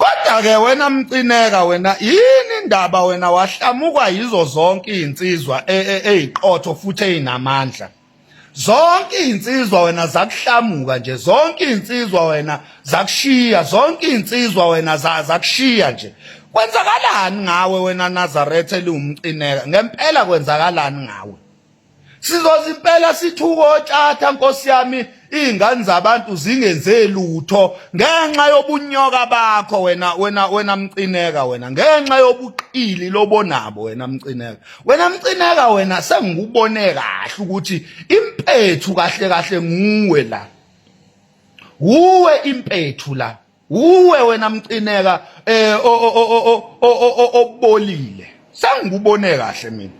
kodwa-ke wena mcineka wena yini indaba wena wahlamukwa yizo zonke iy'nsizwa e, e, ey'qotho futhi ey'namandla zonke iy'nsizwa wena zakuhlamuka nje zonke iy'nsizwa wena zakushiya zonke iy'nsizwa wena zakushiya nje kwenzakalani ngawe wena nazaretha eliwumcineka ngempela kwenzakalani ngawe sizozimpela sithuka otshatha nkosi yami iy'ngane zabantu zingenze lutho ngenxa yobunyoka bakho wena wena wena mcineka wena ngenxa yobuqili lobonabo wena mcineka wena mcineka wena sengikubone kahle ukuthi impethu kahle kahle nguwe la wuwe impethu la Uwe wena mcineka eh obolile. Sangikubone kahle mina.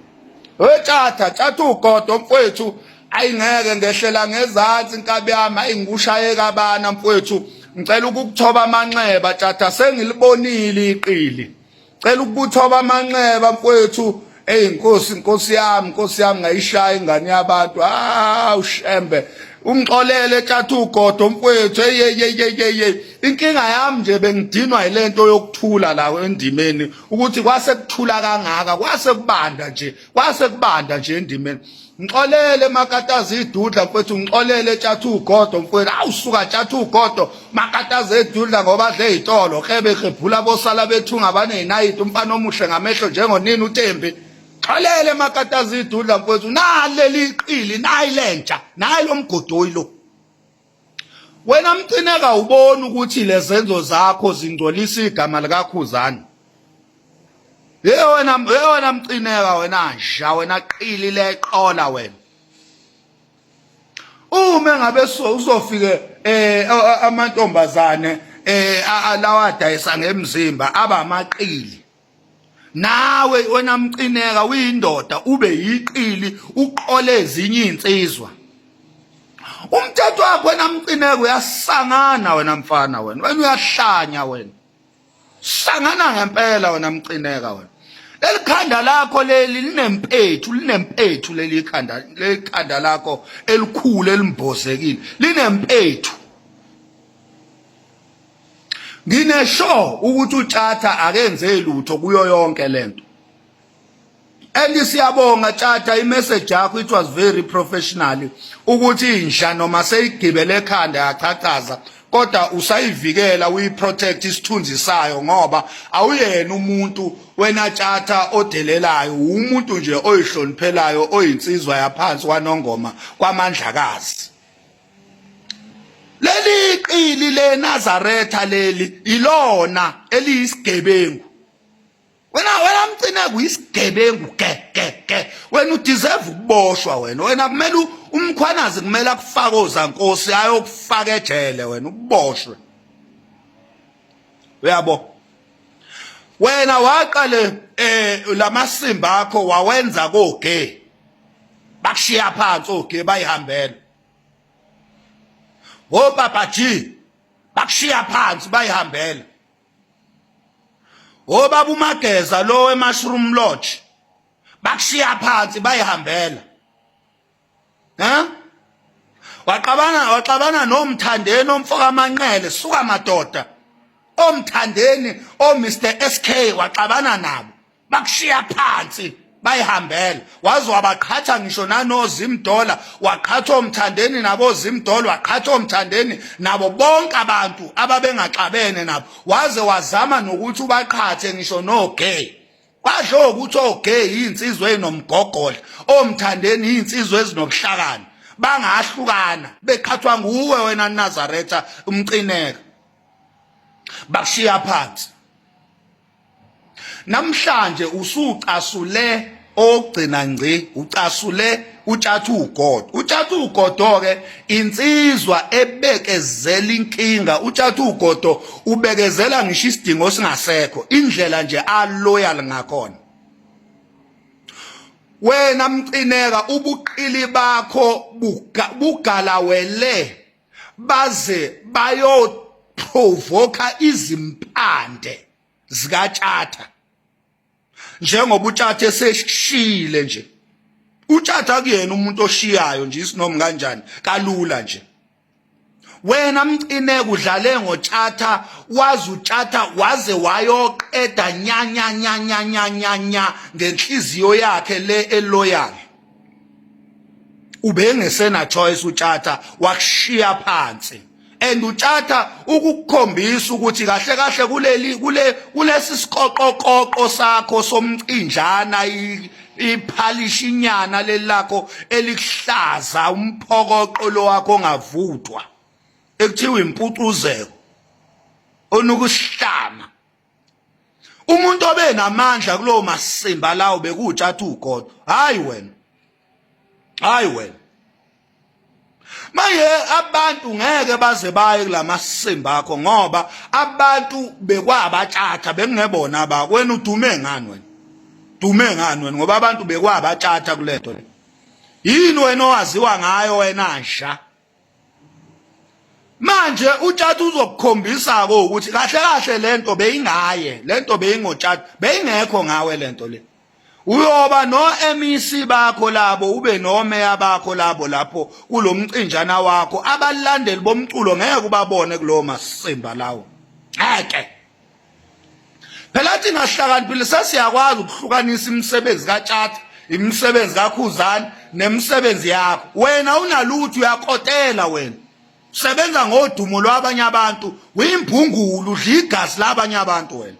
Wetshatha tshatha ugodo mfwethu ayingeke ngehlela ngezansi inkabi yami ayingikushaye kabana mfwethu ngicela ukukuthoba amanxeba tshatha sengilibonile iqili. cela ukubuthoba amanxeba mfowethu eyi nkosi nkosi yami nkosi yami ngayishaya ingane yabantu ah ushembe umxolele etshatha ugodo mfowethu eyeyeyeyeye inkinga yami nje bengidinwa yilento yokuthula la endimeni ukuthi kwase kuthula kangaka kwase kubanda nje kwase kubanda nje endimeni ngixolele makataza idudla mfethu ngixolele tshatha ugodo mfethu awu suka tshatha ugodo makataza edudla ngoba dle izitolo kebe kebhula bosala bethunga abanezinayiti umfana omuhle ngamehlo njengonini uTembi xolele makataza idudla mfethu naleli iqili nayi lentsha nayi lomgodoyi lo wena mcineka ubona ukuthi lezenzo zakho zingcolisa igama likakhuzana hey wena hey wena mcineka wena nja wena qili leqola wena uma ngabe so uzofike eh amantombazane eh alawa dayisa ngemzimba abamaqili nawe wena mqineka uyindoda ube yiqili uqole ezinye izinsizwa umthetho wakho wena mqineka uyasangana wena mfana wena wena uyahlanya wena sangana ngempela wena mqineka wena leli khanda lakho leli linempethu linempethu leli khanda leli khanda lakho elikhulu elimbozekile linempethu nginesho ukuthi utshatha akenze lutho kuyo yonke lento and siyabonga tshatha imessage yakho it was very professional ukuthi inja noma seyigibele ekhanda yachachaza kodwa usayivikela uyiprotect isithunzi sayo ngoba awuyena umuntu wena tshatha odelelayo umuntu nje oyihloniphelayo oyinsizwa yaphansi kwanongoma kwamandlakazi leli qili leNazaretha leli ilona eliyisigebengu wena wena mcineko uyisigebengu ke ke ke wena udeserve ukuboshwa wena wena kumele umkhwanazi kumele akufake ozankosi ayokufaka ejele wena uboshwe uyabo wena waqale eh lamasimba akho wawenza koge bakushiya phansi oge bayihambela obaba G bakushiya phansi bayihambela obaba umageza lo wemushroom lodge bakushiya phansi bayihambela ha waxabana waxabana nomthandeni omfoka manqele suka madoda omthandeni o Mr SK waxabana nabo bakushiya phansi bayihambela waze wabaqhatha ngisho nanozimdola waqhatha omthandeni nabo zimdola waqhatha omthandeni nabo bonke abantu ababengaxabene nabo waze wazama nokuthi ubaqhathe ngisho nogay kwasho ukuthi ogay insizwe enomgogodla omthandeni insizwe ezinobuhlakani bangahlukana beqhathwa nguwe wena Nazaretha umcineka bakushiya phansi namhlanje usucasule ogcina ngci ucasule utshathu ugodo utshathu ugodo ke insizwa ebekezela inkinga utshathu ugodo ubekezela ngisho isidingo singasekho indlela nje aloyal ngakhona wena mcineka ubuqili bakho bugalawele baze bayoprovoka izimpande zikatshatha njengoba utshatha eseshile nje utshatha kuyena umuntu oshiyayo nje isinomi kanjani kalula nje wena mcine kudlale ngotshatha wazi utshatha waze wayoqeda nyanyanyanyanyanya ngenhliziyo yakhe le eloyal ubengesena choice utshatha wakushiya phansi and utshatha ukukukhombisa ukuthi kahle kahle kuleli kule kulesi siqoqoqoqo sakho somcinjana iphalishi inyana lelakho elikuhlaza umphokoqo lo wakho ongavuthwa ekuthiwa impucuzeko onukusihlama umuntu obe namandla kulowo masimba lawo bekuwutshatha ugodo hayi wena hayi wena manje abantu ngeke baze baye kulamasimba akho ngoba abantu bekwabatshatha bekungebona ba wena udume ngani wena dume ngani wena ngoba abantu bekwabatshatha kulento le yini wena owaziwa ngayo wena nja manje utshatha uzokukhombisa ko ukuthi kahle kahle lento beyingaye lento beyingotshatha beyingekho ngawe lento le uyoba no MEC bakho labo ube no meya bakho labo lapho kulomcinjana wakho abalandeli bomculo ngeke ubabone kulowo masimba lawo ngeke phela athi ngahlakaniphile sesiyakwazi ukuhlukanisa imisebenzi katshatha imisebenzi kakhuzani nemisebenzi yakho wena unalutho uyakotela wena sebenza ngodumo lwabanye abantu uyimbhungulu udla igazi labanye abantu wena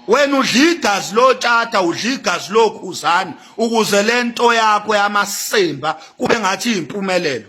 wena udla igazi lotshata udla igazi lokhuzani ukuze lento yakho yamasimba kube ngathi impumelelo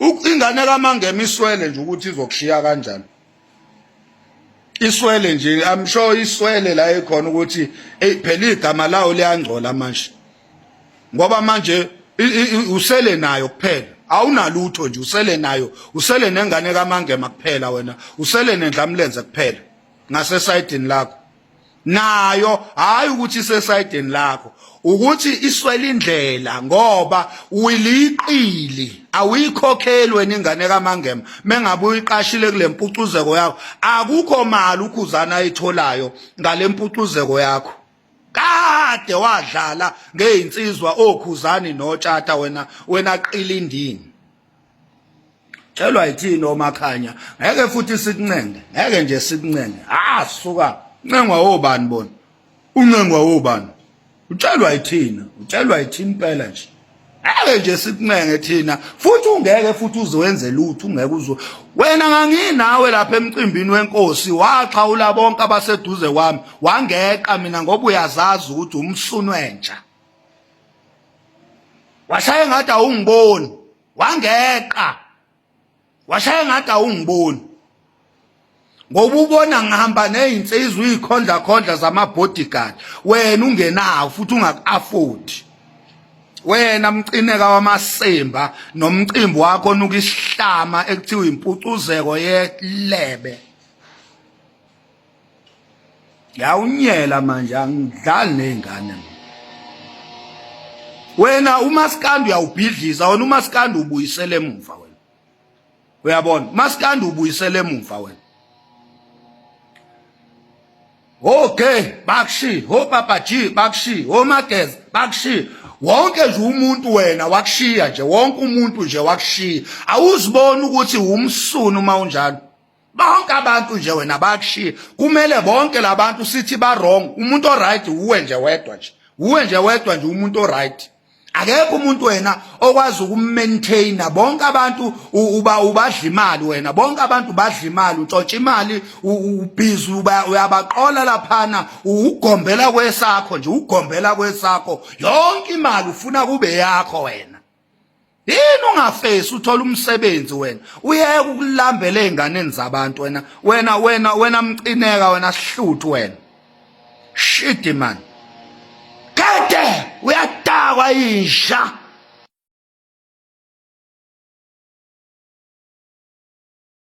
ingane kamangema iswele nje ukuthi izokushiya kanjani iswele nje i'm sure iswele la ekhona ukuthi phela igama lawo liyangcola manje ngoba manje usele nayo kuphela awunalutho nje usele nayo usele nengane kamangema kuphela wena usele nendlamlenze kuphela ngasesayidini lakho nayo hayi ukuthi isesayideni lakho ukuthi iswele indlela ngoba uliqili awuyikhokheli wena ingane kamangema mengabe uyiqashile kule mpucuzeko yakho akukho mali ukhuzana ayitholayo ngale mpucuzeko yakho kade wadlala ngey'nsizwa okhuzani notshata wena wena qilindini Celwa yithini omakhanya ngeke futhi sikuncenge ngeke nje sikuncenge ah suka ncengwa obani bona uncengwa obani utshelwa yithina utshelwa yithini impela nje ngeke nje sikuncenge thina futhi ungeke futhi uzowenze lutho ungeke uzo wena nganginawe lapha emcimbini wenkosi waxhawula bonke abaseduze kwami wangeqa mina ngoba uyazazi ukuthi umsunwenja washaya ngathi awungiboni wangeqa washaya ngathi awungiboni ngoba ubona ngihamba nezinsizwa izikhondla khondla zama bodyguard wena ungenawo futhi ungaku-afford wena mcineka wamasimba nomcimbi wakho onuka isihlama ekuthiwa impucuzeko yelebe yawunyela manje angidlali nezingane wena umaskandi uyawubhidliza wena umaskandi ubuyisele emuva wena uyabona umaskandi ubuyisele emuva wena okay bakushi ho papa g bakushi ho mageza bakushi wonke nje umuntu wena wakushiya nje wonke umuntu nje wakushiya awuziboni ukuthi umsunu uma unjalo bonke abantu nje wena bakushiye kumele bonke labantu sithi ba wrong umuntu o right uwe nje wedwa nje uwe nje wedwa nje umuntu o right akekho umuntu wena okwazi ukumaintaina bonke abantu uba ubadla imali wena bonke abantu badla imali untshontsha imali ubhizi uyabaqola laphana ugombela kwesakho nje ugombela kwesakho yonke imali ufuna kube yakho wena yini ungafesi uthola umsebenzi wena uyeke ukulambela ezinganeni zabantu wena wena wena wena mcineka wena sihluthu wena shit man kade uyadakwa insha